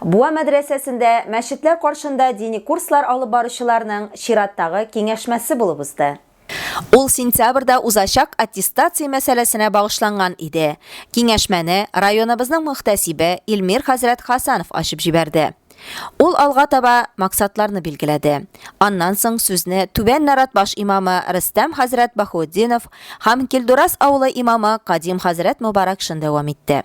Буа мәдрәсәсендә мәчетләр каршында дини курслар алып баручыларның чираттагы киңәшмәсе булып узды. Ул сентябрьдә узачак аттестация мәсьәләсенә багышланган иде. Киңәшмәне районыбызның мөхтәсибе Илмир хәзрәт Хәсәнов ачып җибәрде. Ул алга таба максатларны билгеләде. Аннан соң сүзне Түбән Наратбаш имамы Рөстәм хәзрәт Баһуэтдинов һәм Килдурас авылы имамы Кадим хәзрәт Мобаракшин дәвам итте.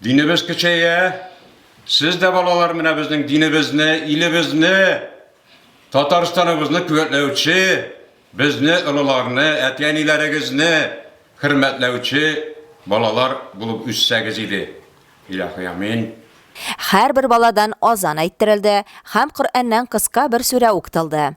Динебез көчәя. Сез дә балалар менә безнең динебезне, илебезне, Татарстаныбызны күәтләүче, безне олыларны, әти-әниләрегезне хөрмәтләүче балалар булып үссәгез иде. Илаһи амин. Һәрбер баладан азан әйттерелде һәм Коръәннән кыска бер сүрә уктылды.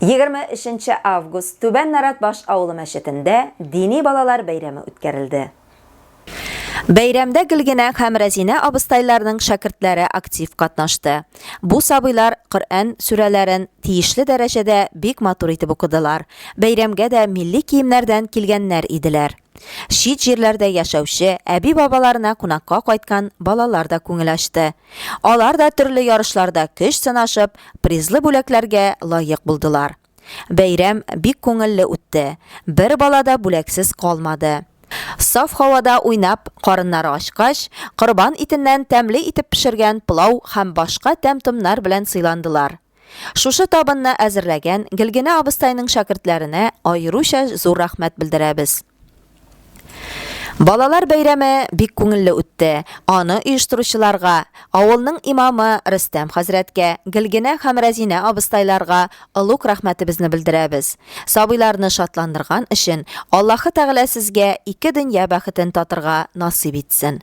23 нче август Түбән Нарат Баш авылы мәчетендә дини балалар бәйрәме үткәрелде. Бәйрәмдә Гөлгенә һәм Рәзинә абыстайларның шәкертләре актив катнашты. Бу сабыйлар Коръән сүрәләрен тиешле дәрәҗәдә бик матур итеп укыдылар. Бәйрәмгә дә милли киемнәрдән килгәннәр иделәр. Чит җирләрдә яшәүче, әби-бабаларына кунакка кайткан балалар да күңел ачты. Алар да төрле ярышларда көч сынашып, призлы бүләкләргә лаек булдылар. Бәйрәм бик күңелле үтте, бер бала да бүләксез калмады. Саф һавада уйнап, карыннары ачкач, корбан итеннән тәмле итеп пешергән пылау һәм башка тәм-томнар белән сыйландылар. Шушы табынны әзерләгән Гелгенә абыстайның шәкертләренә аеруча зур рәхмәт белдерәбез. Балалар бәйрәме бик күңелле үтте. Аны оештыручыларга, авылның имамы Рөстәм хәзрәткә, Гелгенә һәм Рәзинә абыстайларга олуг рәхмәтебезне белдерәбез. Сабыйларны шатландырган өчен Аллаһы Тәгалә сезгә ике дөнья бәхетен татырга насыйп итсен.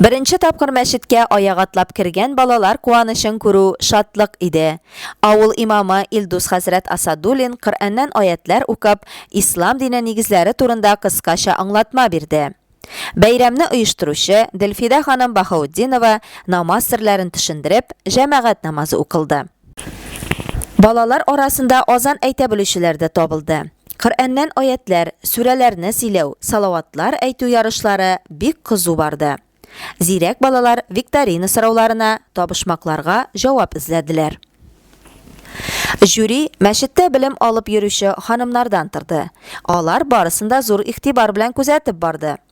Беренче тапкыр мәчеткә аяк атлап кергән балалар куанычын күрү шатлык иде. Авыл имамы Илдус хәзрәт Асадуллин Коръәннән аятьләр укып, ислам дине нигезләре турында кыскача аңлатма бирде. Бәйрәмне оештыручы Делфидә ханым Баһаутдинова намаз серләрен төшендереп, җәмәгать намазы укылды. Балалар арасында азан әйтә белүчеләр дә табылды. Коръәннән аятьләр, сүрәләрне сөйләү, салаватлар әйтү ярышлары бик кызу барды. Зирәк балалар викторина сорауларына, табышмакларга җавап эзләделәр. Жюри мәчеттә белем алып йөрүче ханымнардан торды. Алар барысын да зур игътибар белән күзәтеп барды.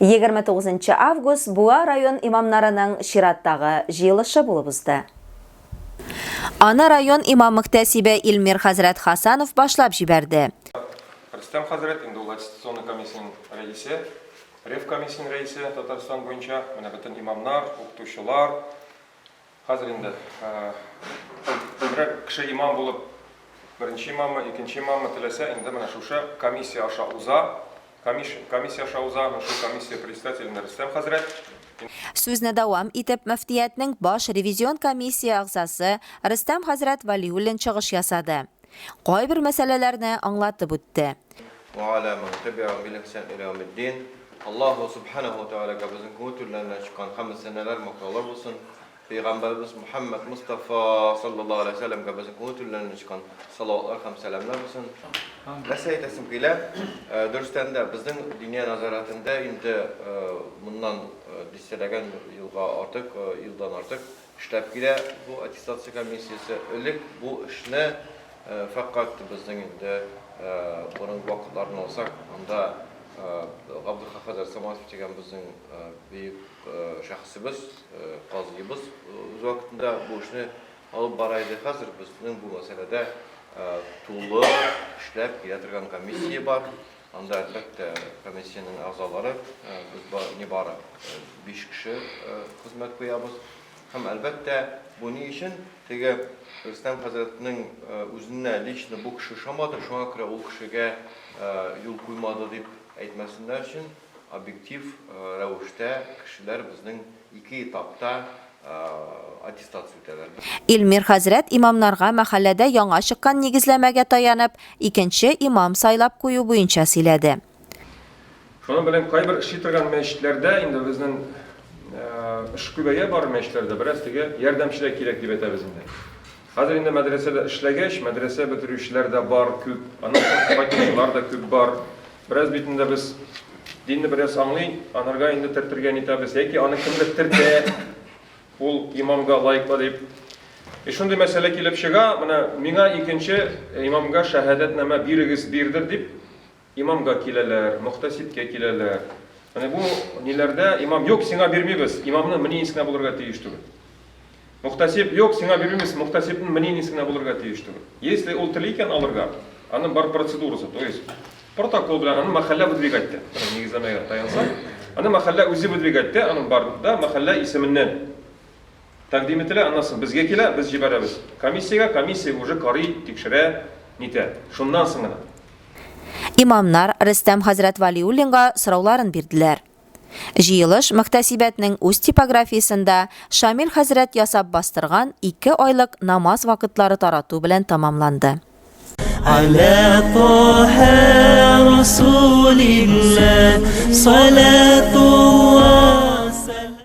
29 нчы август Буа район имамнарының чираттагы җыелышы булып узды. Аны район имам-мөхтәсибе Илмир хәзрәт Хасанов башлап җибәрде. Рөстәм хәзрәт инде ул аттестационный комиссиянең рәисе, ревкомиссиянең рәисе Татарстан буенча. Менә бөтен имамнар, укытучылар, Хәзер инде күбрәк кеше имам булып, беренче имаммы, икенче имаммы теләсә, инде менә шушы комиссия аша уза, камиш, комиссия аша уза, ну шул комиссия председателенә Рөстәм хәзрәт. Сүзне дәвам итеп, мөфтиятнең баш ревизион комиссия әгъзасы Рөстәм хәзрәт Вәлиуллин чыгыш ясады. Кайбер мәсьәләләрне аңлатып үтте. Ва аля ман тәбиәһум бил ихсан илә яумиддин. Аллаһу Субханәһу ва Тәгаләгә безнең күңел түрләреннән чыккан хәмд сәнәләр, мактаулар булсын. Пәйгамбәребез Мөхәммәд Мостафа саллаллаһу аләйһи ва сәлләмгә безнең күңел түрләреннән чыккан салаватлар һәм сәламнәр булсын. Нәрсә әйтәсем килә, дөрестән дә, безнең Диния нәзарәтендә инде моннан дистәләгән елга артык, елдан артык, Эшләп килә бу аттестация комиссиясе. Элек бу эшне фәкать безнең инде борынгы вакытларны алсак, анда Габделхак хәзрәт Саматов дигән безнең бөек шәхесебез, казыебыз үз вакытында бу эшне алып бара иде. Хәзер безнең бу мәсьәләдә тулы эшләп килә торган комиссия бар. Анда, әлбәттә, комиссиянең әгъзалары, без бар, нибары биш кеше хезмәт куябыз. Һәм, әлбәттә, бу ни өчен? Теге Рөстәм хәзрәтнең үзенә лично бу кеше ошамады, шуңа күрә ул кешегә юл куймады дип әйтмәсеннәр өчен, объектив рәвештә кешеләр безнең Ике этапта аттестация үтәләр. Илмир хәзрәт имамнарга мәхәлләдә яңа чыккан нигезләмәгә таянып, икенче имам сайлап кую буенча сөйләде. Шуның белән кайбер эшли торган мәчетләрдә инде безнең эш күбәя бары мәчетләрдә бераз теге ярдәмче дә кирәк дип әйтәбез инде. Хәзер инде мәдрәсә дә эшләгәч, мәдрәсә бетерүчеләр дә бар, күп, аннан соң кайтучылар да күп бар. Бераз бит инде без динне бераз аңлый, анарга инде тертергә нитәбез, яки аны кемдер тертә, ул имамга лаеклы дип. И шундый мәсьәлә килеп чыга, менә миңа икенче имамга шәһадәтнамә бирегез, бирдер дип, Имамга киләләр, мөхтәсибкә киләләр. Менә бу ниләрдә имам юк, сиңа бирмибез. Имамның мнениесе генә булырга тиеш түгел. Мөхтәсиб юк, сиңа бирмибез. Мөхтәсибнең мнениесе генә булырга тиеш түгел. Если ул тели икән алырга, аның бар процедурасы, то есть протокол белән аны мәхәллә выдвигать итә. Нигезләмәгә таянса, аны мәхәллә үзе выдвигать итә, аның бар да мәхәллә исеменнән. Тәкъдим ителә, аннан соң безгә килә, без җибәрәбез комиссиягә, комиссия уже карый, тикшерә, нитә. Шуннан соң гына. Имамнар Рөстәм хәзрәт Вәлиуллинга сорауларын бирделәр. Җыелыш мөхтәсибәтнең үз типографиясендә Шамил хәзрәт ясап бастырган ике айлык намаз вакытлары тарату белән тәмамланды. Ала Таһа Расулилла салатулла сәлам.